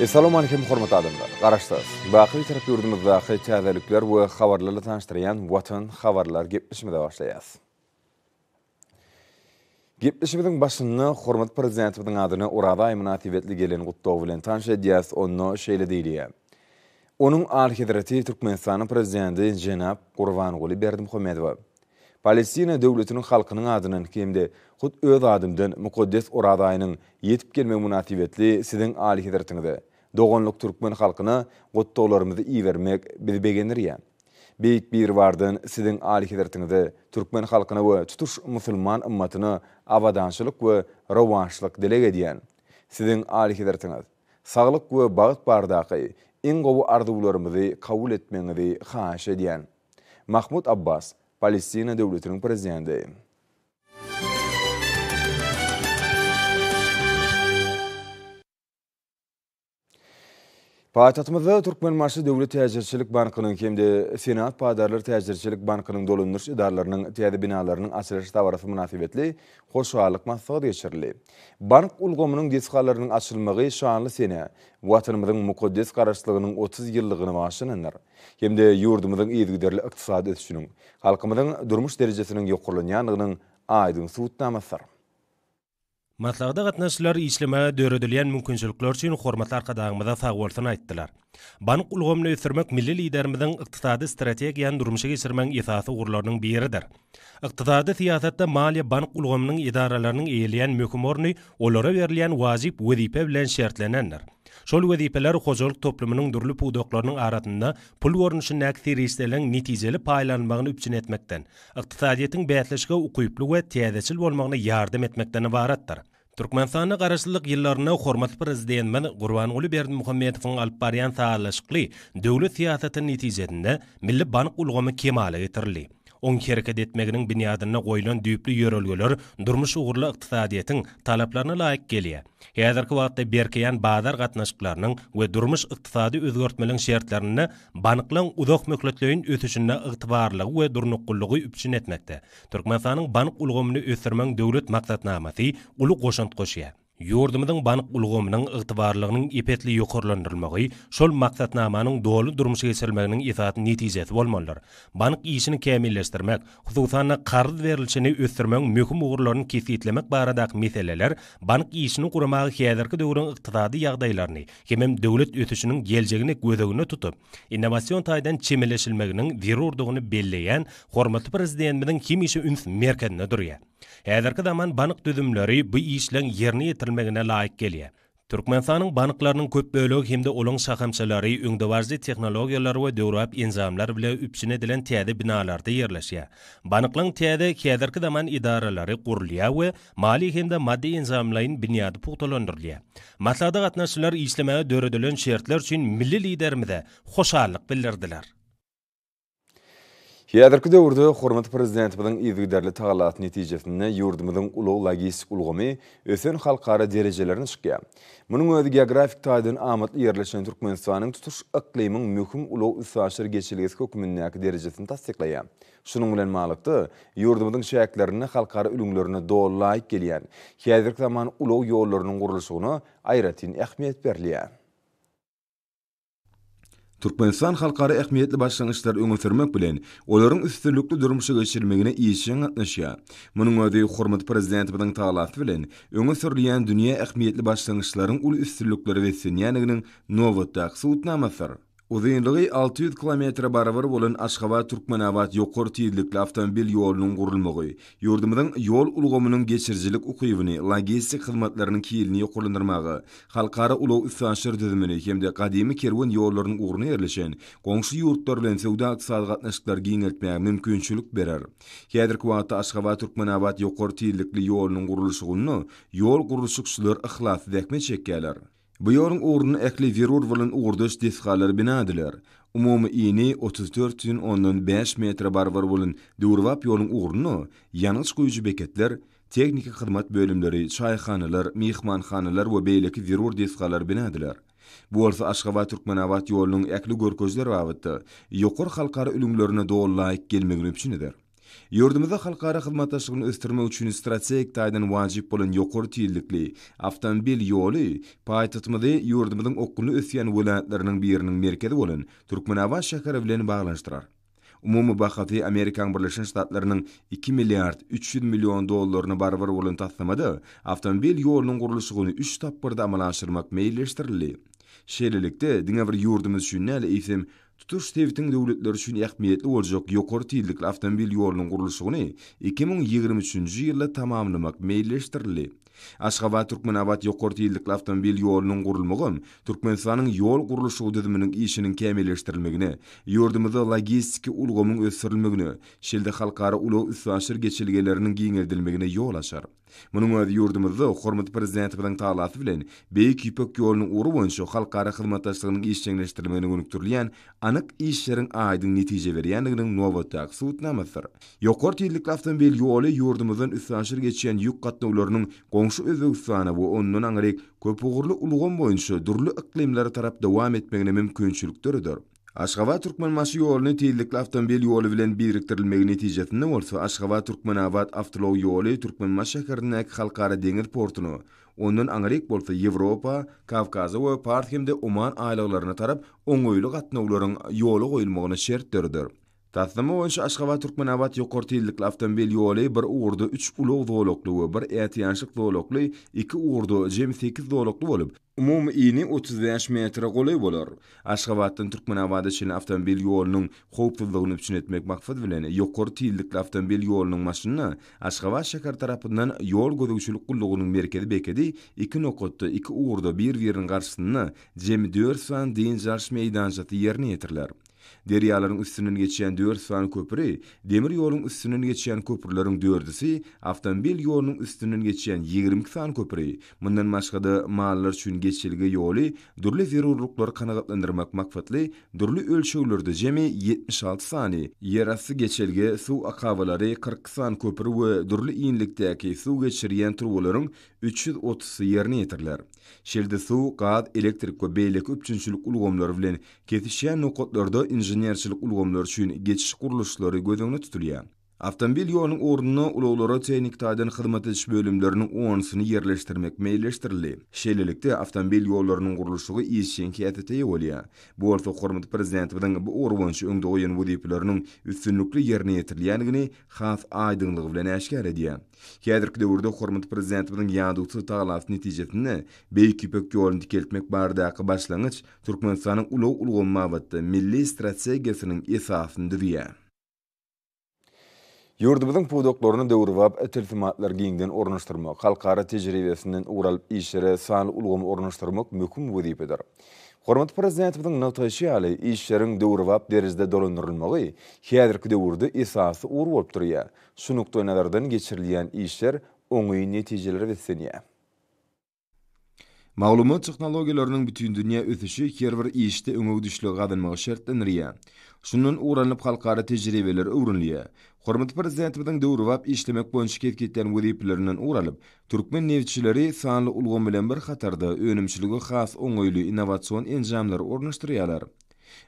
Essalawmalikim hormatly adamlar! Garaşsaz, baky Bitarap ýurdumyzdaky täzelikler we habarlarla tanyşdyrýan Watan habarlar gepleşimize başlaýas. Gepleşimiziň başynda hormatly Prezidentimiziň adyna Oraza aýy mynasybetli gelen gutlag bilen tanyş edýäs, onda şeýle diýilýär, Onuň Alyhezreti Türkmenistanyň Prezidenti jenap Gurbanguly Berdimuhamedowa, Palestina döwletiniň halkynyň adyndan hem-de hut öz adymdan mukaddes Oraz aýynyň ýetip gelmegi mynasybetli Siziň Alyhezretiňize, doganlyk türkmen halkyna gutlaglarymyzy ibermek bizi begendirýär. Beýik Biribardan Siziň Alyhezretiňize, türkmen halkyna we tutuş musulman ymmatyna abadançylyk we rowaçlyk dileg edýän. Siziň Alyhezretiňiz, saglyk we bagt bardaky iň gowy arzuwlarymyzy kabul etmegiňizi haýyş edýän. Mahmud Abbas, Palestina döwletiniň Prezidenti. Paýtagtymyzda Türkmenbaşy döwlet täjirçilik bankynyň hem-de Senat paýdarlar täjirçilik bankynyň dolandyryş edaralarynyň täze binalarynyň açylyş dabarasy mynasybetli hoşallyk maslahaty geçirildi. Bank ulgamynyň desgalarynyň açylmagy şanly senä Watanymyzyň mukaddes Garaşsyzlygynyň otuz ýyllygyny bagşlanandyr. hem-de ýurdumyzyň yzygiderli ykdysady ösüşiniň, halkymyzyň durmuş derejesiniň ýokarlanýandygynyň aýdyň subutnamasydyr. Maslahata gatnaşyjylar işlemäge döredilýän mümkinçilikler üçin hormatly Arkadagymyza sagbolsun aýtdylar. Bank ulgamyny ösdürmek milli Liderimiziň ykdysady strategiýany durmuşa geçirmegiň esasy ugurlarynyň biridir. Ykdysady syýasatda maliýe-bank ulgamynyň edaralarynyň eýeleýän möhüm orny olara berilýän wajyp wezipe bilen şertlenendir. Şol wezipeler hojalyk toplumynyň dürli pudaklarynyň arasynda pul görnüşindäki serişdeleriň netijeli paýlanylmagyny üpjün etmekden, ykdysadyýetiň bäsleşige ukyply we täzeçil bolmagyna ýardam etmekden ybaratdyr. Türkmenistanda garaşsyzlyk ýyllarynda hormatly Prezidentimiz Gurbanguly Berdimuhamedowyň alyp barýan sazlaşykly döwlet syýasatynyň netijesinde milli bank ulgamy kemala getirildi. Oň hereket etmeginiň binýadynda goýlan düýpli ýörelgeler durmuş ugurly ykdysadyýetiň talaplaryna laýyk gelýär. Häzirki wagtda berkeýän bazar gatnaşyklarynyň we durmuş-ykdysady özgertmeliň şertlerinde banklaň uzakmöhletleýin ösüşinde ygtybarlylygy we durnuklylygy üpjün etmekde Türkmenistanyň bank ulgamyny ösdürmegiň döwlet maksatnamasy uly goşant goşýar. Ýurdumyzyň bank ulgamynyň ygtybarlylygynyň ep-esli ýokarlandyrylmagy şol maksatnamanyň doly durmuşa geçirilmeginiň esasy netijesi bolmalydyr. Bank işini kämilleşdirmek, hususan-da, karz berlişini ösdürmegiň möhüm ugurlaryny kesgitlemek baradaky meseleler bank işini guramaga häzirki döwrüň ykdysady ýagdaýlaryny hemem döwlet ösüşiniň geljegini göz öňünde tutup, innowasion taýdan çemeleşilmeginiň zerurdygyny belleýän hormatly Prezidentimiziň hemişe üns merkezinde durýar. Häzirki zaman bank düzümleri bu işleň ýerine ýetirilmegine laýyk gelýär. Türkmenistanyň banklarynyň köp bölegi hem-de olaryň şahamçalary öňdebaryjy tehnologiýalar we döwrebap enjamlar bile üpjün edilen täze binalarda ýerleşýär. Banklaryň täze, häzirki zaman edaralary gurulýar we Maliýe hem-de maddy-enjamlaýyn binýady pugtalandyrylýar. Maslahata gatnaşyjylar işlemäge döredilen şertler üçin milli Liderimize hoşallyk bildirdiler. Häzirki döwürde hormatly Prezidentimiziň yzygiderli tagallasy netijesinde ýurdumyzyň ulag-logistik ulgamy ösen halkara derejelerine çykýar. Munuň özi geografik taýdan amatly ýerleşen Türkmenistanyň tutuş yklymyň möhüm ulag-üstaşyr geçelgesi hökmündäki derejesini tassyklaýar. Şunuň bilen baglylykda, ýurdumyzyň çäklerinde halkara ülňülerine doly laýyk gelýän, häzirki zaman ulag ýollarynyň gurluşygyna aýratyn ähmiýet berilýär. Türkmenistan halkara ähmiýetli başlangyçlary öňe sürmek bilen, olaryň üstünlikli durmuşa geçirilmegine işjeň gatnaşýar. Munuň özi hormatly Prezidentimiziň talasy bilen öňe sürülýän dünýä ähmiýetli başlangyçlaryň uly üstünliklere beslenýändiginiň nobatdaky subutnamasydyr. Uzynlygy alty ýüz kilometre barabar bolan Aşgabat-Türkmenabat ýokary tizlikli awtomobil ýolunyň gurulmagy ýurdumyzyň ýol ulgamynyň geçirijilik ukybyny, logistik hyzmatlarynyň hilini ýokarlandyrmaga, halkara ulag-üstaşyr düzümini hem-de gadymy kerwen ýollarynyň ugruna ýerleşen goňşy ýurtlar bilen söwda-ykdysady gatnaşyklary giňeltmäge mümkinçilik berer. Häzirki wagtda Aşgabat-Türkmenabat ýokary tizlikli ýolunyň gurluşygynda ýol gurluşykçylar yhlasly zähmet çekýärler. Bu ýoluň ugruna ähli zerur bolan ugurdaş desgalar bina ediler. Umumy ini otuz dört syn ondan bäş metre barabar bolan döwrebap ýoluň ugruna ýangyç guýujy beketler, tehniki hyzmat bölümleri, çaýhanalar, myhmanhanalar we beýleki zerur desgalar bina ediler. Bu bolsa Aşgabat, Türkmenabat ýolunyň ähli görkeziler babatda ýokary halkara ülňülerine doly laýyk gelmegini üpjün eder. Ýurdumyzda halkara hyzmatdaşlygyny ösdürmek üçin strategik taýdan wajyp bolan ýokary tizlikli awtomobil ýoly paýtagtymyzy ýurdumyzyň okgunly ösýän welaýatlarynyň biriniň merkezi bolan Türkmenabat şäheri bilen baglanyşdyrar. Umumy bahasy Amerikaň Birleşen Ştatlarynyň iki milliard üç ýüz million dollaryna barabar bolan taslamada awtomobil ýolunyň gurluşygyny üç tapgyrda amala aşyrmak meýilleşdirildi. Şeýlelikde, diňe bir ýurdumyz üçin däl, eýsem, Tutuş sebitiň döwletleri üçin ähmiýetli boljak ýokary tizlikli awtomobil ýolunyň gurluşygyny iki müň ýigrimi üçünji ýylda tamamlamak meýilleşdirildi. Aşgabat-Türkmenabat ýokary tizlikli awtomobil ýolunyň gurulmagam Türkmenistanyň ýol gurluşygy düzüminiň işiniň kämilleşdirilmegine, ýurdumyzda logistiki ulgamyň ösdürilmegine, şeýle-de halkara ulag-üstaşyr geçelgeleriniň giňeldilmegine ýol açar. Munuň özi ýurdumyzda hormatly Prezidentimiziň talasy bilen Beýik Ýüpek ýolunyň ugry boýunça halkara hyzmatdaşlygynyň işjeňleşdirilmegine gönükdirilýän anyk işleriň aýdyň netije berýändiginiň nobatdaky subutnamasydyr. Ýokary tizlikli awtomobil ýoly ýurdumyzdan üstaşyr geçýän ýük gatnawlarynyň goňşy Özbegistana we ondan aňryk köpugurly ulgam boýunça dürli yklymlara tarap dowam etmegine mümkinçilik döreder. Aşgabat, Türkmenbaşy ýoluny tizlikli awtomobil ýoly bilen birikdirilmegi netijesinde bolsa Aşgabat, Türkmenabat awtoulag ýoly Türkmenbaşy şäherindäki Halkara deňiz portuna, ondan aňryk bolsa Ýewropa, Kawkaza we Pars hem-de Oman aýlaglaryna tarap oňaýly gatnawlaryň ýola goýulmagyna şert döreder. Taslama boýunça Aşgabat, Türkmenabat ýokary tizlikli awtomobil ýoly bir ugurda üç ulag zolakly we bir ätiýaçlyk zolakly, iki ugurda jemi sekiz zolakly bolup, Umumy yny otuz bäş metre golaý bolar. Aşgabatdan Türkmenabada çenli awtomobil ýolunyň howpsuzlygyny üpjün etmek maksady bilen, ýokary tizlikli awtomobil ýolunyň maşynyna Aşgabat şäheri tarapyndan Ýol gözegçilik gullugynyň merkezi bekedi iki nokatda, iki ugurda bir-biriniň garşysynda jemi dört sany dynç alyş meýdançasy ýerine ýetiriler. Derýalaryň üstünden geçýän dört sany köpri, demir ýoluň üstünden geçýän köprüleriň dördüsi, awtomobil ýolunyň üstünden geçýän ýigrimi iki sany köpri, mundan başga-da, mallar üçin geçelge ýoly, dürli zerurlyklary kanagatlandyrmak maksatly dürli ölçeglerde jemi ýetmiş alty sany, ýerasty geçelge, suw akabalary, kyrk iki sany köpri we dürli ýylylikdäki suw geçirýän turbalaryň üç ýüz otuzsy ýerine ýetiriler. Şeýle-de suw, gaz, elektrik we beýleki üpjünçilik ulgamlary bilen Kesişýän nokatlarda inženerçilik ulgamlary üçin geçiş gurluşlary göz öňünde tutulýar. Awtomobil ýolunyň ornuna ulaglara tehniki taýdan hyzmat ediş bölümleriniň onusyny ýerleşdirmek meýilleşdirildi. Şeýlelikde, awtomobil ýollarynyň gurluşygy işjeň häsiýete eýe bolýar. Bu bolsa hormatly Prezidentimiziň bu ugur boýunça öňde goýan wezipeleriniň üstünlikli ýerine ýetirilýändigini has aýdyňlygy bilen äşgär edýär. Häzirki döwürde hormatly Prezidentimiziň ýadawsyz tagallasy netijesinde Beýik Ýüpek ýoluny dikeltmek baradaky başlangyç Türkmenistanyň ulag ulgamy babatda milli strategiýasynyň esasyny düzýär. Ýurdumyzyň pudaklaryny döwrebap tilsimatlar giňden ornaşdyrmak, halkara tejribesinden ugur alyp işlere sanly ulgamy ornaşdyrmak möhüm wezipedir. Hormatly Prezidentimiziň nygtaýşy ýaly, işleriň döwrebap derejede dolandyrylmagy häzirki döwürde esasy ugur bolup durýar. Şu nukdaýnazardan geçirilýän işler oňyn netijelere beslenýär. Maglumat tehnologiýalarynyň bütindünýä ösüşi her bir işde öňegidişligi gazanmagy şertlendirýär. Şundan ugur alnyp halkara tejribeler öwrenilýär. Hormatly Prezidentimiziň döwrebap işlemek boýunça kesgitlän wezipelerinden ugur alyp, türkmen nebitçileri sanly ulgam bilen bir hatarda önümçilige has oňaýly innowasion enjamlary ornaşdyrýarlar.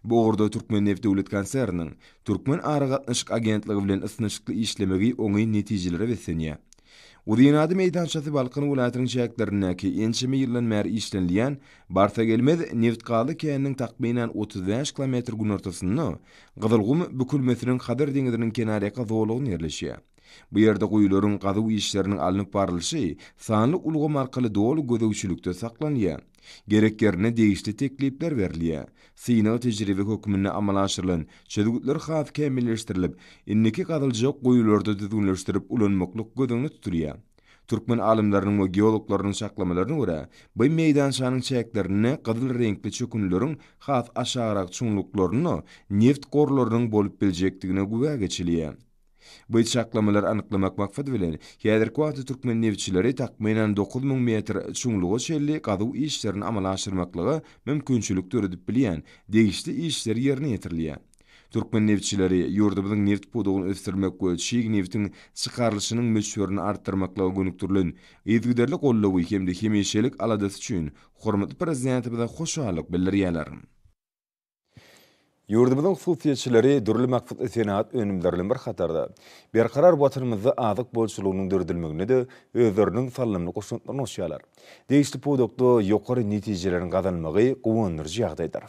Bu ugurda Türkmenneft döwlet konserniniň Türkmen aragatnaşyk agentligi bilen ysnyşykly işlemegi oňyn netijelere beslenýär. Uzynady meýdançasy Balkan welaýatynyň çäklerindäki ençeme ýyldan bäri işlenilýän Barsagelmez nebitgazly käniniň takmynan otuz bäş kilometr günortasynda Gyzylgum bükülmesiniň Hazar deňziniň kenarýaka zolagynda ýerleşýär. Bu ýerde guýularyň gazuw işleriniň alnyp barlyşy sanly ulgam arkaly doly gözegçilikde saklanýar. Gerek ýerinde degişli teklipler berilýär. Synag tejribe hökmünde amala aşyrylan çözgütler has kämilleşdirilip, indiki gazyljak guýularda düzgünleşdirip ulanmaklyk göz öňünde tutulýar. Türkmen alymlarynyň we geologlarynyň çaklamalaryna görä, bu meýdançanyň çäklerinde gyzyl reňkli çökünlileriň has aşagrak çuňluklarynda neft gorlarynyň bolup biljekdigine güwä geçilýär. Bu çaklamalary anyklamak maksady bilen, häzirki wagtda türkmen neftçileri takmynan dokuz müň metr çuňluga çenli gazuw işlerini amala aşyrmaklyga mümkinçilik döredip bilýän degişli işler ýerine ýetirilýär. Türkmen neftçileri ýurdumyzyň neft pudagyny ösdürmek we çig nebtiň çykarylyşynyň möçberini artdyrmaklyga gönükdirilen yzygiderli goldawy hem-de hemişelik aladasy üçin hormatly Prezidentimize hoşallyk bildirýärler. Ýurdumyzyň hususyýetçileri dürli maksatly senagat önümleri bilen bir hatarda, berkarar Watanymyzda azyk bolçulygynyň döredilmeginde-de özleriniň salymly goşantlaryny goşýarlar. Degişli pudakda ýokary netijeleriň gazanylmagy guwandyryjy ýagdaýdyr.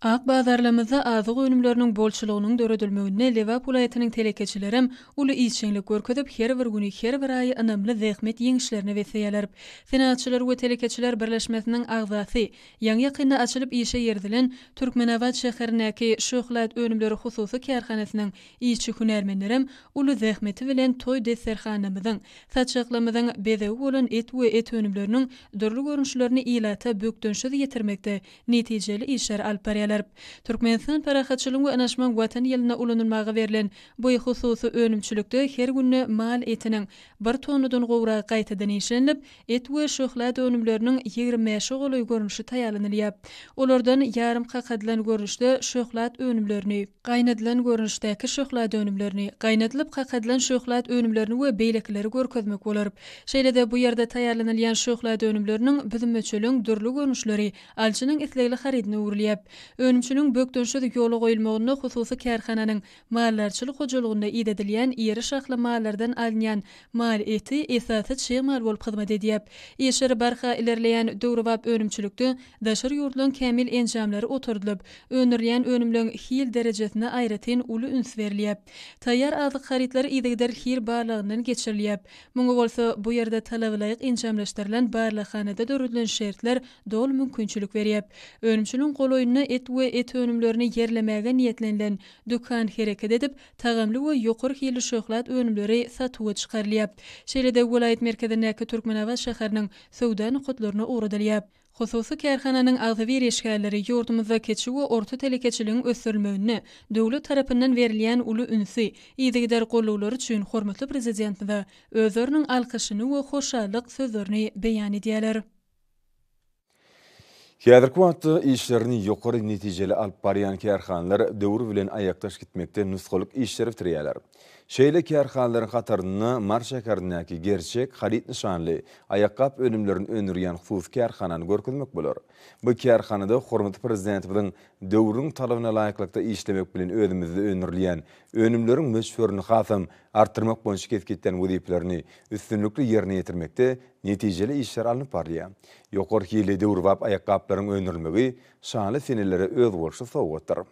Ak bazarlarymyzda azyk önümleriniň bolçulygynyň döredilmeginde Lebap welaýatynyň telekeçilerem uly işjeňlik görkezip, her bir güni, her bir aýy ynamly zähmet ýeňişlerine besleýärler. Senagatçylar we telekeçiler birleşmesiniň agzasy, ýaňy-ýakynda açylyp işe girizilen Türkmenabat şäherindäki Şöhlat önümleri hususy kärhanasynyň işçi-hünärmenlerem uly zähmeti bilen toý desterhanamyzyň, saçaklamyzyň bezegi bolan et we et önümleriniň dürli görnüşlerini ilata bökdençsiz ýetirmekde netijeli işleri alyp barýarlar. Türkmenistan Parahatçylygyň we Ynaşmagyň Watan ýylynda ulanylmaga berlen bu hususy önümçilikde her günde mal etiniň bir tonnadan gowragy gaýtadan işlenilip, et we şöhlat önümleriniň ýigrimi bäşe golaý görnüşi taýýarlanylýar. Olardan ýarym kakadylan görnüşde şöhlat önümlerini, gaýnadylan görnüşdäki şöhlat önümlerini, gaýnadylyp kakadylan şöhlat önümlerini we beýlekileri görkezmek bolar. Şeýle-de bu ýerde taýýarlanylýan şöhlat önümleriniň büzüm-öçüliň dürli görnüşleri alyjynyň islegli harydyna öwrülýär. Önümçiligiň bökdençsiz ýola goýulmagynda hususy kärhananyň maldarçylyk hojalygynda idedilýän iri şahly mallardan alynýan mal eti esasy çig mal bolup hyzmat edýär. Işleri barha ilerleýän döwrebap önümçilikde daşary ýurtlaryň kämil enjamlary oturdylyp, öndürilýän önümleň hil derejesine aýratyn uly üns berilýär. Taýýar azyk harytlary yzygider hil barlagyndan geçirilýär. Muňa bolsa bu ýerde talabalaýyk enjamlaşdyrylan barlaghanada döredilen şertler doly mümkinçilik berýär. Önümçiligiň golaýynda et we et önümlerini ýerlemäge niýetlenilen dükan hereket edip, tagamly we ýokary hilli şöhlat önümleri satuwa çykarylýar. Şeýle-de welaýat merkezindäki Türkmenabat şäheriniň söwda nokatlaryna ugradylýar. Hususy kärhananyň agzybir işgärleri ýurdumyzda kiçi we orta telekeçiligiň ösdürilmeginde döwlet tarapyndan berilýän uly ünsi, yzygider gollawlary üçin hormatly Prezidentimize özleriniň alkyşyny we hoşallyk sözlerini beýan edýärler. Häzirki wagtda işlerini ýokary netijeli alyp barýan kärhanalar döwür bilen aýakdaş gitmekde nusgalyk işleri bitirýärler. Şeýle kärhanalaryň hatarynda Mary şäherindäki Gerçek haryt nyşanly aýakgap önümlerini öndürýän hususy kärhanany görkezmek bolar. Bu kärhanada hormatly Prezidentimiziň Döwrüň talabyna laýyklykda işlemek bilen özümizde öndürilýän önümleriň möçberini hasam artdyrmak boýunça kesgitlen wezipelerini üstünlikli ýerine ýetirmekde netijeli işler alnyp barylýar. Ýokary hilli döwrebap aýakgaplaryň öndürilmegi şanly senelere özboluşly sowgatdyr.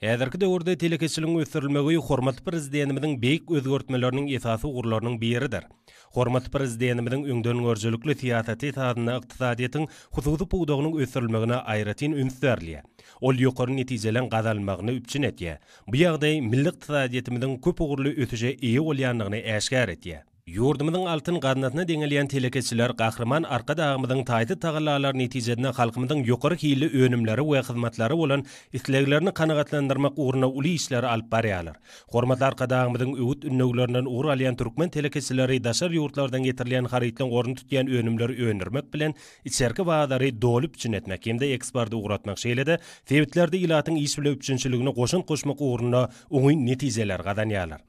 Häzirki döwürde telekeçiligiň ösdürilmegi hormatly Prezidentimiziň beýik özgertmeleriniň esasy ugurlarynyň biridir. Hormatly Prezidentimiziň öňdengörüjilikli syýasaty esasynda ykdysadyýetiň hususy pudagynyň ösdürilmegine aýratyn üns berilýär. Ol ýokary netijeleň gazanylmagyny üpjün edýär. Bu ýagdaý milli ykdysadyýetimiziň köp ugurly ösüşe eýe bolýandygyny äşgär edýär. Ýurdumyzyň altyn gaznasyna deňelýän telekeçiler Gahryman Arkadagymyzyň taýsyz tagallalary netijesinde halkymyzyň ýokary hilli önümlere we hyzmatlara bolan isleglerini kanagatlandyrmak ugrunda uly işleri alyp barýarlar. Hormatly Arkadagymyzyň öwüt-ündewlerinden ugur alýan türkmen telekeçileri daşary ýurtlardan getirilýän harytlaryň ornuny tutýan önümleri öndürmek bilen, içerki bazary doly üpjün etmek hem-de eksporty ugratmak, şeýle-de sebitlerde ilatyň iş bilen üpjünçiligine goşant goşmak ugrunda oňyn netijeleri gazanýarlar.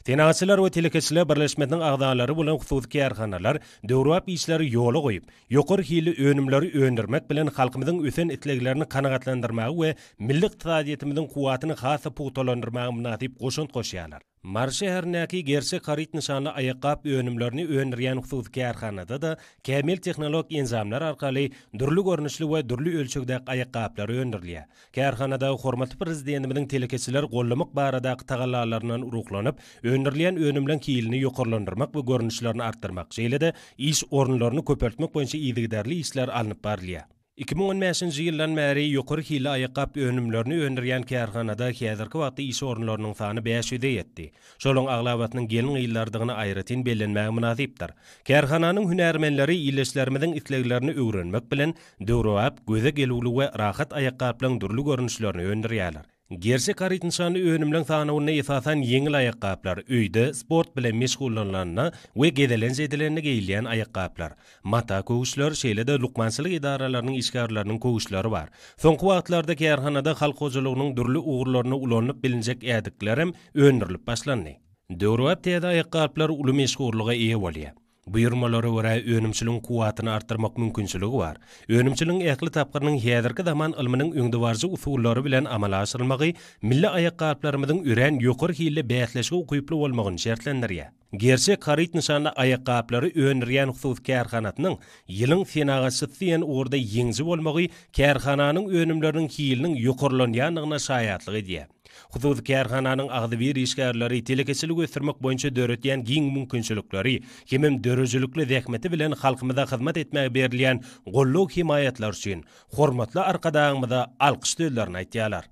Senagatçylar we telekeçiler birleşmesiniň agzalary bolan hususy kärhanalar döwrebap işleri ýola goýup, ýokary hilli önümleri öndürmek bilen, halkymyzyň ösen isleglerini kanagatlandyrmaga we milli ykdysadyýetimiziň kuwwatyny has-da pugtalandyrmaga mynasyp goşant goşýarlar. Mary şäherindäki Gerçek haryt nyşanly aýakgap önümlerini öndürýän hususy kärhanada-da kämil tehnologik enjamlar arkaly dürli görnüşli we dürli ölçegdäki aýakgaplar öndürilýär. Kärhanada hormatly Prezidentimiziň telekeçileri gollamak baradaky tagallalaryndan ruhlanyp, öndürilýän önümleň hilini ýokarlandyrmak we görnüşlerini artdyrmak, şeýle-de iş orunlaryny köpeltmek boýunça yzygiderli işler alnyp barylýar. Iki müň on bäşinji ýyldan bäri ýokary hilli aýakgap önümlerini öndürýän kärhanada häzirki wagtda iş orunlarynyň sany bäş ýüze ýetdi. Şolaryň aglabasynyň gelin-gyzlardygyny aýratyn bellenmäge mynasypdyr. Kärhananyň hünärmenleri ildeşlerimiziň isleglerini öwrenmek bilen, Döwrebap, göze gelüwli we rahat aýakgaplaryň dürli görnüşlerini öndürýärler. Gerçek haryt nyşanly önümleň sanawynda esasan ýeňil aýakgaplar, öýde sport bilen meşgullanylanda we gezelenç edilende geýilýän aýakgaplar, mata köwüşler, şeýle-de lukmançylyk edaralarynyň işgärleriniň köwüşleri bar. Soňky wagtlarda kärhanada halk hojalygynyň dürli ugurlarynda ulanylyp bilinjek ädiklerem öndürilip başlandy. Döwrebap täze aýakgaplar uly meşhurlyga eýe bolýar. Buýurmalara görä, önümçiligiň kuwwatyny artdyrmak mümkinçiligi bar. Önümçiligiň ähli tapgyrynyň häzirki zaman ylmynyň öňdebaryjy usullary bilen amala aşyrylmagy milli aýakgaplarymyzyň örän ýokary hilli bäsleşige ukyply bolmagyny şertlendirýär. Gerçek haryt nyşanly aýakgaplary öndürýän hususy kärhanasynyň Ýylyň senagatçysy diýen ugurda ýeňiji bolmagy kärhananyň önümleriniň hiliniň ýokarlanýandygyna şaýatlyk edýär. Hususy kärhananyň agzybir işgärleri telekeçiligi ösdürmek boýunça döredýän giň mümkinçilikleri hemem döredijilikli zähmeti bilen halkymyza hyzmat etmäge berilýän goldaw-hemaýatlary üçin hormatly Arkadagymyza alkyş sözlerini aýtýarlar.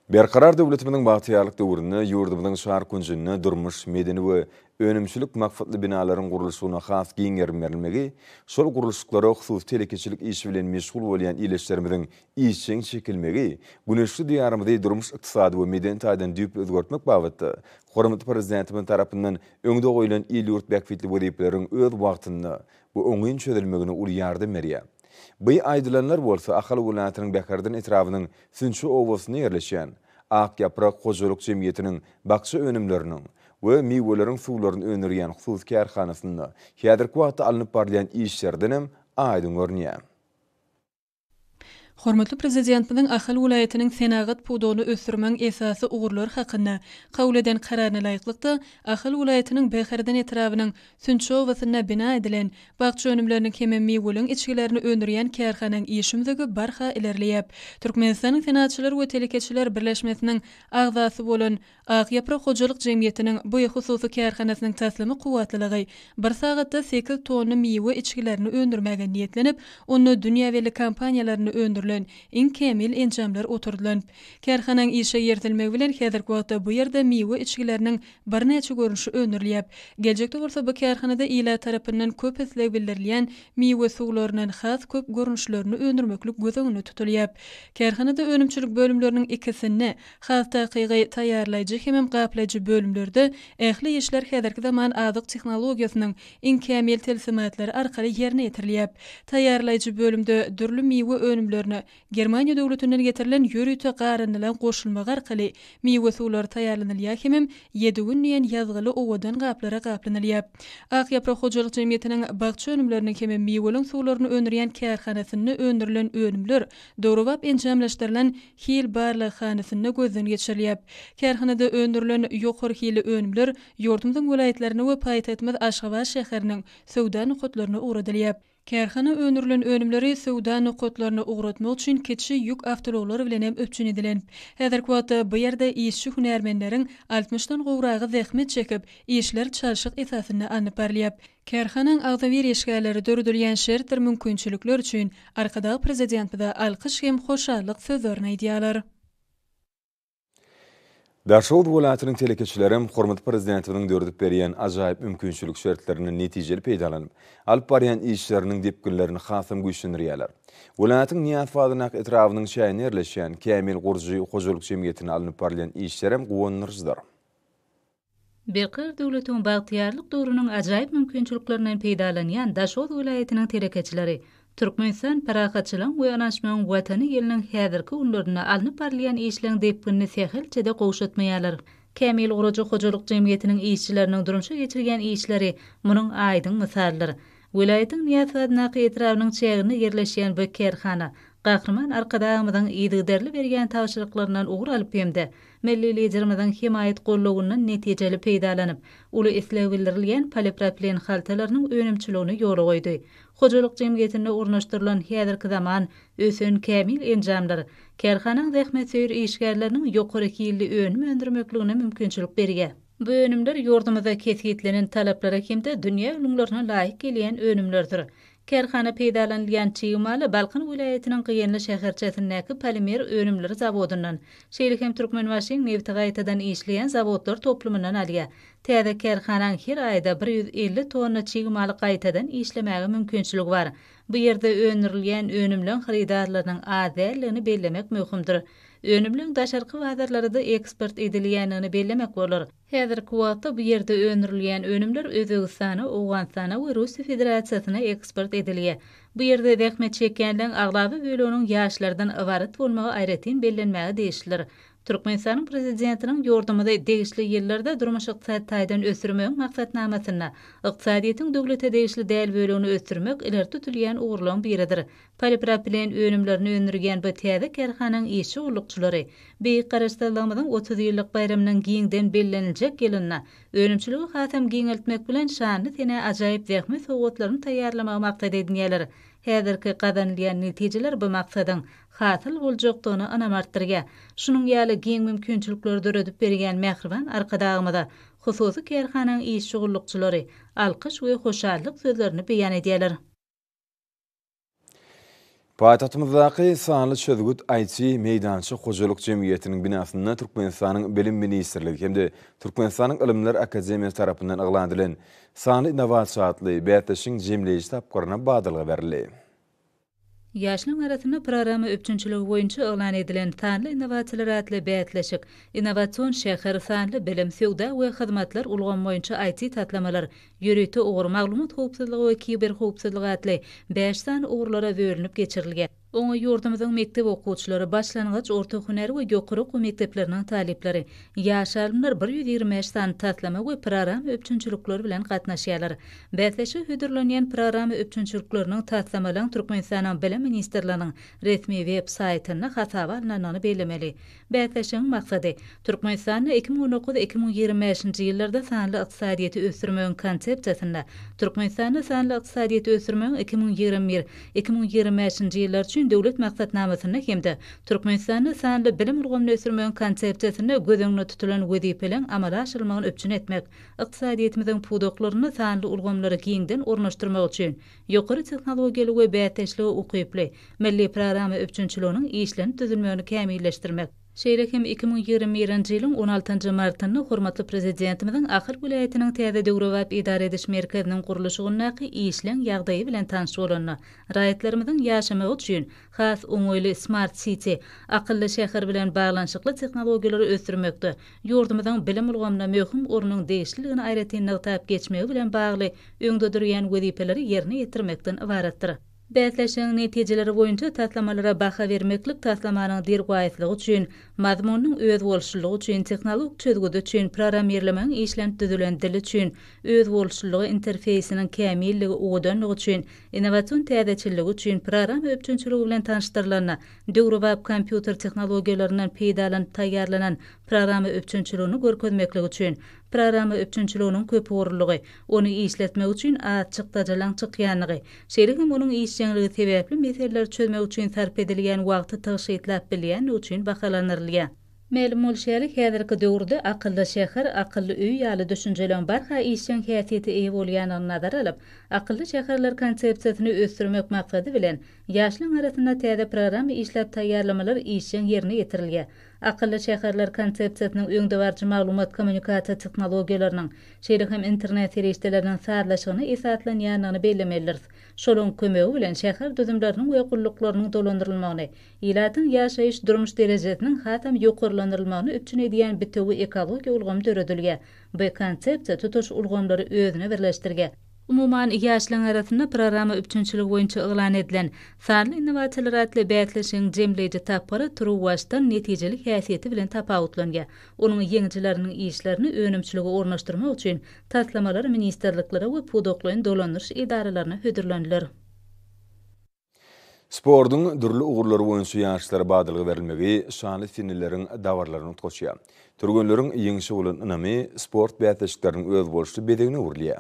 Berkarar döwletimiziň bagtyýarlyk döwründe ýurdumyzyň çar künjünde durmuş, medeni we önümçilik maksatly binalaryň gurluşygyna has giň gerim berilmegi şol gurluşyklara hususy telekeçilik işi bilen meşgul bolýan ildeşlerimiziň işjeň çekilmegi güneşli Diýarymyzy durmuş-ykdysady we medeni taýdan düýpli özgertmek babatda hormatly Prezidentimiz tarapyndan öňde goýlan il-ýurt bähbitli wezipeleriň öz wagtynda we oňyn çözülmegine uly ýardam berýär. Bu aýdylanlar bolsa Ahal welaýatynyň Bäherden etrabynyň Sünçi obasynda ýerleşýän, Ak ýaprak hojalyk jemgyýetiniň bakja önümleriniň we miweleriň suwlaryny öndürýän hususy kärhanasynda häzirki wagtda alnyp barylýan işlerden hem aýdyň görünýär. Hormatly Prezidentimiziň Ahal welaýatynyň senagat pudagyny ösdürmegiň esasy ugurlary hakynda kabul eden Kararyna laýyklykda, Ahal welaýatynyň Bäherden etrabynyň Sünçi obasynda bina edilen, bakja önümleriniň hem-ä miweliň içgilerini öndürýän kärhananyň iş ümzügi barha ilerleýär. Türkmenistanyň Senaatçylar we telekeçiler birleşmesiniň agzasy bolan Ak ýaprak hojalyk jemgyýetiniň bu hususy kärhanasynyň taslama kuwwatlylygy bir sagatda sekiz tonna miwe içgilerini öndürmäge niýetlenip, onda dünýä belli kompaniýalarynda öndürilen iň kämil enjamlar oturdylan. Kärhanaň işe ýertilmegi bilen häzirki wagtda bu ýerde miwe içgileriniň birnäçe görnüşi öndürilýäp. Geljekde bolsa bu kärhanada ilat tarapyndan köp isleg bildirilýän miwe suwlaryndan has köp görnüşlerini öndürmeklik göz öňünde tutulýap. Kärhanada önümçilik bölümleriniň ikisinde, has takygy, taýýarlaýjy hemem gaplaýjy bölümlerde ähli işler häzirki zaman azyk tehnologiýasynyň iň kämil tilsimatlary arkaly ýerine ýetirilýäp. Taýýarlaýjy bölümde dürli miwe önümlerini Germaniýa döwletinden getirilen ýörite garyndylan goşulmak arkaly miwe suwlary taýýarlanylýar hemem ýediwin diýen ýazgyly owadan gaplara gaplanylýar. Ak ýaprak hojalyk jemgyýetiniň bakja önümleriniň hemem miweliň suwlaryny öndürýän kärhanasynda öndürilen önümler döwrebap enjamlaşdyrylan hil barlaghanasynda gözden geçirilýär. Kärhanada öndürilen ýokary hilli önümler ýurdumyzyň welaýatlaryna we paýtagtymyz Aşgabat şäheriniň söwda nokatlaryna ugradylýar. Kärhana öndürilen önümleri söwda nokatlaryna ugratmak üçin kiçi ýük awtouaglary bilen hem üpjün edilen. Häzirki wagtda bu ýerde işçi hünärmenleriň altmyşdan gowragy zähmet çekip, işler çalşyk esasynda alnyp barylýar. Kärhanaň agzybir işgärleri döredilýän şertdir mümkinçilikler üçin Arkadag Prezidentimize alkyş hem hoşallyk sözlerini aýdýarlar. Daşoguz welaýatynyň telekeçilerem hormatly Prezidentimiziň döredip berýän ajaýyp mümkinçilik şertlerinden netijeli peýdalanyp, alyp barýan işleriniň depginlerini hasam güýçlendirýärler. Welaýatyň Nyýazpazynak etrabynyň çäginde ýerleşýän Kämil gurujy hojalyk jemgyýetinde alnyp barylýan işlerem guwandyryjydyr. Berkarar döwletiň bagtyýarlyk döwrüniň ajaýyp mümkinçiliklerinden peýdalanýan Daşoguz welaýatynyň telekeçileri Türkmenistan parahatçylygyň we ynanyşmagyň Watany ýylynň häzirki günlerinde alnyp barylýan işleň depginini sähelçe-de gowşatmaýarlar. Kämil gurujy hojalyk jemgyýetiniň işçileriniň durmuşa geçirýän işleri munuň aýdyň mysalydyr. Welaýatyň Nyýazhazyndaky etrabynyň çäginde ýerleşýän bu kärhana Gahryman Arkadagymyzyň yzygiderli berýän tabşyryklaryndan ugur alyp hem-de Milli Liderimiziň hemaýat gollawyndan netijeli peýdalanyp, uly isleg bildirilýän polipropilen haltalarynyň önümçiligini ýola goýdy. Hojalyk jemgyýetinde ornaşdyrylan häzirki zaman, ösen kämil enjamlar kärhanaň zähmetsöýer işgärleriniň ýokary hilli önüm öndürmekligine mümkinçilik berýär. Bu önümler ýurdumyzda kesgitlenen talaplara hem-de dünýä ülňülerine laýyk gelýän önümlerdir. Kärhana peýdalanylýan çig maly Balkan welaýatynyň Gyýanly şäherçesindäki polimer önümleri zawodyndan, şeýle hem Türkmenbaşyň nebti gaýtadan işleýän zawodlar toplumyndan alýar. Täze kärhanaň her aýda bir ýüz elli tonna çig maly gaýtadan işlemäge mümkinçiligi bar. Bu ýerde öndürilýän önümleň hyrydarlarynyň az däldigini bellemek möhümdir. Önümleň daşarky bazarlarada eksport edilýändigini bellemek bolar. Häzirki wagtda bu ýerde öndürilýän önümler Özbegistana, Owganystana we Russiýa Federasiýasyna eksport edilýär. Bu ýerde zähmet çekýänleriň aglaba böleginiň ýaşlardan ybarat bolmagy aýratyn bellenmäge degişlidir. Türkmenistanyň Prezidentiniň ýurdumyzy degişli ýyllarda durmuş-ykdysady taýdan ösdürmegiň maksatnamasynda ykdysadyýetiň döwlete degişli däl bölegini ösdürmek ileri tutulýan ugurlaryň biridir. Polipropilen önümlerini öndürýän bu täze kärhananyň işçi gullukçylary Beýik Garaşsyzlygymyzyň otuz ýyllyk baýramynyň giňden belleniljek ýylynda önümçiligi hasam giňeltmek bilen şanly senä ajaýyp zähmet sowgatlaryny taýýarlamagy maksat edinýärler. Häzirki gazanylýan netijeler bu maksadyň hasyl boljakdygyna ynam artdyrýar. Şunuň ýaly giň mümkinçilikleri döredip berýän mähriban Arkadagymyza hususy kärhananyň işçi gullukçylary alkyş we hoşallyk sözlerini beýan edýärler. Paýtagtymyzdaky Sanly çözgüt IT meýdança hojalyk jemgyýetiniň binasynda Türkmenistanyň Bilim ministrligi hem-de Türkmenistanyň Ylymlar akademiýasy tarapyndan yglan edilen Sanly innowasiýa atly bäsleşigiň jemleýji tapgyryna badalga berildi. Ýaşlaryň arasynda programma üpjünçiligi boýunça yglan edilen Sanly innowasiýalar atly bäsleşik, Innowasion şäher, Sanly bilim, Söwda we hyzmatlar ulgamy boýunça IT-taslamalar, Ýörite ugur Maglumat howpsuzlygy we kiberhowpsuzlyk atly bäş sany ugurlara bölünip geçirilge. Oňa ýurdumyzyň mekdep okuwçylary, başlangyç, orta hünär we ýokary okuw mekdepleriniň talyplary, ýaş alymlar bir ýüz ýigrimi bäş sany taslama we program üpjünçilikleri bilen gatnaşýarlar. Bäsleşige hödürlenýän program üpjünçilikleriniň taslamalaryň Türkmenistanyň Bilim ministrliginiň resmi web saýtynda hasaba alnandygyny bellemeli. Bäsleşigiň maksady, Türkmenistanda iki müň on dokuz, iki müň ýigrimi bäşinji ýyllarda sanly ykdysadyýeti ösdürmegiň Konsepsiýasynda Türkmenistanda sanly ykdysadyýeti ösdürmegiň iki müň ýigrimi bir, iki müň ýigrimi bäşinji ýyllar üçin Döwlet maksatnamasynda hem-de Türkmenistanda sanly bilim ulgamyny ösdürmegiň Konsepsiýasynda göz öňünde tutulan wezipeleň amala aşyrylmagyny üpjün etmek, ykdysadyýetimiziň pudaklarynda sanly ulgamlary giňden ornaşdyrmak üçin Ýokary tehnologiýaly we bäsdeşlige ukyply milli programma üpjünçiliginiň işlenip düzülmegini kämilleşdirmek, şeýle hem iki müň ýigrimi birinji ýylyň on altynjy martynda hormatly Prezidentimiziň Ahal welaýatynyň täze döwrebap edara ediş merkeziniň gurluşygyndaky işleň ýagdaýy bilen tanyş bolanda, raýatlarymyzyň ýaşamagy üçin has oňaýly Smart City, Akylly şäher, bilen baglanyşykly tehnologiýalary ösdürmekde ýurdumyzyň bilim ulgamyna möhüm ornuň degişliligini aýratyn nygtap geçmegi bilen bagly öňde durýan wezipeleri ýerine ýetirmekden ybaratdyr. Bäsleşigiň netijeleri boýunça taslamalara baha bermeklik taslamanyň derwaýyslygy üçin, mazmunynyň özboluşlylygy üçin, tehnologik çözgüdi üçin, prorammirlemegiň işlenip düzülen dili üçin, özboluşlylygy, interfeýsiniň kämilligi, owadanlygy üçin, innowasion täzeçilligi üçin, prorama üpjünçiligi bilen tanyşdyrylanda, Döwrebap kompýuter tehnologiýalaryndan peýdalanyp taýýarlanan programma üpjünçiligini görkezmeklik üçin, programma üpjünçiliginiň köpugurlylygy, ony işletmek üçin az çykdajylaň çykýanlygy, şeýle hem onuň işjeňligi sebäpli meseleleri çözmek üçin sarp edilýän wagty tygşytlap bilýänligi üçin bahalandyrylýar. Mälim bolşy ýaly, häzirki döwürde akylly şäher, akylly öý ýaly düşünjeleriň barha işjeň häsiýete eýe bolýandygyny nazara alyp, akylly şäherler konsepsiýasyny ösdürmek maksady bilen, ýaşlaryň arasynda täze programma işläp taýýarlamalar işjeň ýerine ýetirilýär. Akylly şäherler konsepsiýasynyň öňdebaryjy maglumat-kommunikasiýa tehnologiýalarynyň, şeýle hem internet serişdeleriniň sazlaşygyna esaslanýandygyny bellemelidiris. Şolaryň kömegi bilen şäher düzümleriniň we gulluklarynyň dolandyrylmagyny, Ilatyň ýaşaýyş-durmuş derejesiniň hasam ýokarlandyrylmagyny üpjün edýän bitewi ekologiýa ulgamy döredilýär. Bu konsepsiýa tutuş ulgamlary özüne birleşdirýär. Umuman, ýaşlaryň arasynda programma üpjünçiligi boýunça yglan edilen Sanly innowasiýalar atly bäsleşigiň jemleýji tapgyry turuwbaşdan netijeli häsiýeti bilen tapawutlanýar. Onuň ýeňijileriniň işlerini önümçilige ornaşdyrmak üçin taslamalar ministrliklere we pudaklaýyn dolandyryş edaralaryna hödürleniler. Sportuň dürli ugurlary boýunça ýaşlara badalga berilmegi şanly seneleriň dabaralaryny utgaşýar. Türgenleriň ýeňşe bolan ynamy sport bäsleşikleriniň özboluşly bezegine öwrülýär.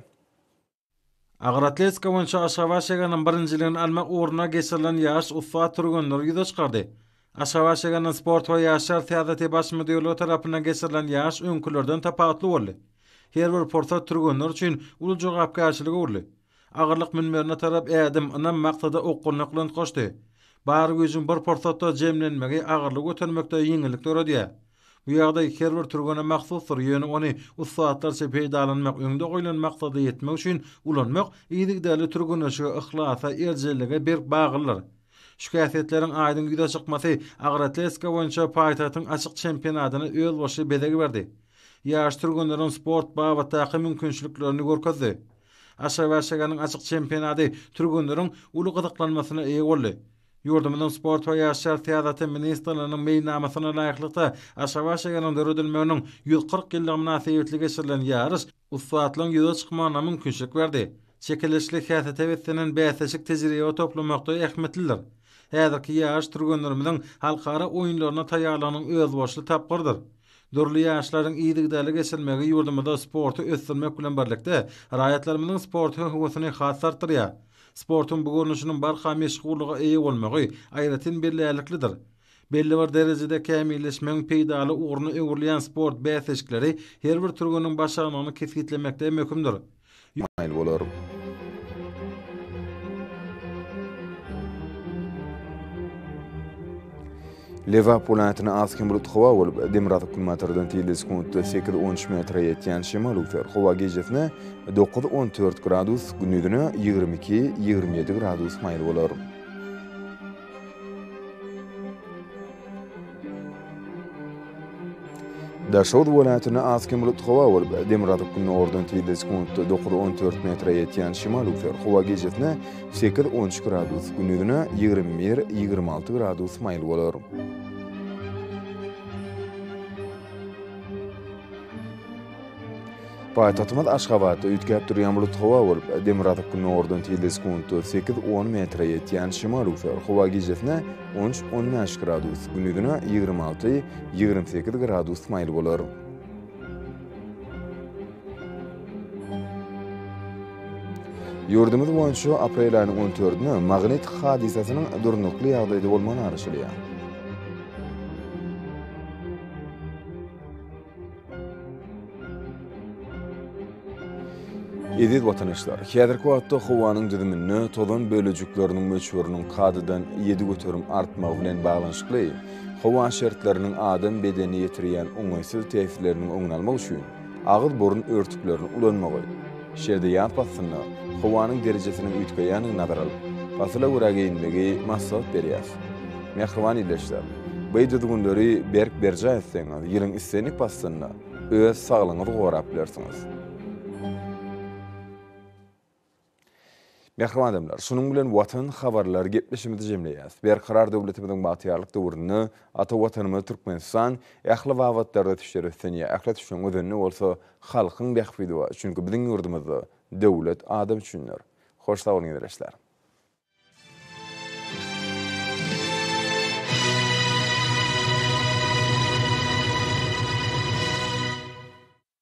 Agyr atletika boýunça Aşgabat şäheriniň birinjiligini almak ugrunda geçirilen ýaryş ussat türgenleri ýüze çykardy. Aşgabat şäheriniň sport we ýaşlar syýasaty baş müdirligi tarapyndan geçirilen ýaryş öňkülerden tapawutly boldy. Her bir pursat türgenler üçin uly jogapkärçilige öwrüldi. Agyrlyk münberine tarap ädim, ynam maksada okgunlyklynt goşdy. Bar güýjüň bir pursatda jemlenmegi agyrlygy götermekde ýeňillik döredýär. Bu ýagdaý her bir türgene mahsusdyr, ýöne ony ussatlarça peýdalanmak, öňde goýlan maksada ýetmek üçin ulanmak yzygiderli türgenleşige, yhlasa, erjellige berk baglydyr. Şu häsiýetleriň aýdyň ýüze çykmasy agroatletika boýunça paýtagtyň açyk çempionatyna özbaşy bezeg berdi. Ýaş türgenleriň sport babatdaky mümkinçiliklerini görkezdi. Aşagaşaganyň açyk çempionady türgenleriň uly gyzyklanmasyna eýe boldy. Ýurdumyzyň Sport we ýaşlar syýasaty ministrliginiň meýilnamasyna laýyklykda, Aşagaşaganyň döredilmeginiň ýüz kyrk ýyllygy mynasybetli geçirilen ýaryş ussatlaryň ýüze çykmagyna mümkinçilik berdi. Çekeleşikli häsiýete beslenen bäsleşik tejribe toplamakda ähmiýetlidir. Häzirki ýaryş türgenlerimiziň halkara oýunlaryna taýýarlygynyň özboluşly tapgyrydyr. Dürli ýaryşlaryň yzygiderli geçirilmegi ýurdumyzda sporty ösdürmek bilen birlikde, raýatlarymyzyň sport höwesini has artdyrýar. Sportuň bu görnüşiniň barha meşhurlyga eýe bolmagy aýratyn bellärliklidir. Belli bir derejede kämilleşmegiň peýdaly ugruna öwrülýän sport bäsleşikleri her bir türgeniň başarnygyny kesgitlemekde möhümdir. Ýöne maýyl bolar. Lebap welaýatyna az-kem bulut howa bolup, demirgazyk-günbatardan tizligi sekuntda sekiz, on üç metre ýetýän şemal öwser. Howa gijesine dokuz, on dört gradus, gündizine ýigrimi iki, ýigrimi ýedi gradus maýyl bolar. Daşoguz welaýatynda az kem bulut howa bolup, demirgazyk günordan tizde sekuntda dokuz on dört metre ýetýän şemal öwser. Howa gijesine sekiz on üç gradus, gündizine ýigrimi bir ýigrimi alty gradus maýyl bolar. Paýtagtymyz Aşgabatda üýtgäp durýan bulut howa bolup, demirgazyk-gündogardan tilde sekuntda sekiz, on metre ýetýän şemal-üser howa gijesine on üç, on bäş gradus, gündizine ýigrimi alty, ýigrimi sekiz gradus maýyl bolar. Ýurdumyz boýunça aprel aýynyň on dördüne magnit hadysasynyň durnukly ýagdaýda bolmagy garaşylýar. Eziz watanyşlar, häzirki wagtda howanyň düzüminde tozan bölejikleriniň möçberiniň kadadan ýedi göterim artmagy bilen baglanyşykly, howa şertleriniň adam bedenine ýetirýän oňaýsyz täsirleriniň öňüni almak üçin agyz-burun örtüklerini ulanmagy, Şerde ýaz paslynda howanyň derejesiniň üýtgeýändigini nazara alyp, pasyla görä geýinmegi maslahat berýäs. Mähriban ildeşler! Beý düzgünleri berk berjaý etseňiz, ýylyň islendik paslynda öz saglygyňyzy gorap bilersiňiz. Mähriban adamlar, şunuň bilen Watan habarlary gepleşigimizi jemleýäs. Berkarar döwletimiziň bagtyýarlyk döwründe ata Watanymyz Türkmenistan ähli babatlarda tüýsler ösdünýär. Ähli tüýsüň özenini bolsa halkyň bähbidi bar. Çünki biziň ýurdumyzda döwlet adam üçindir. Hoş sag boluň ezireşler.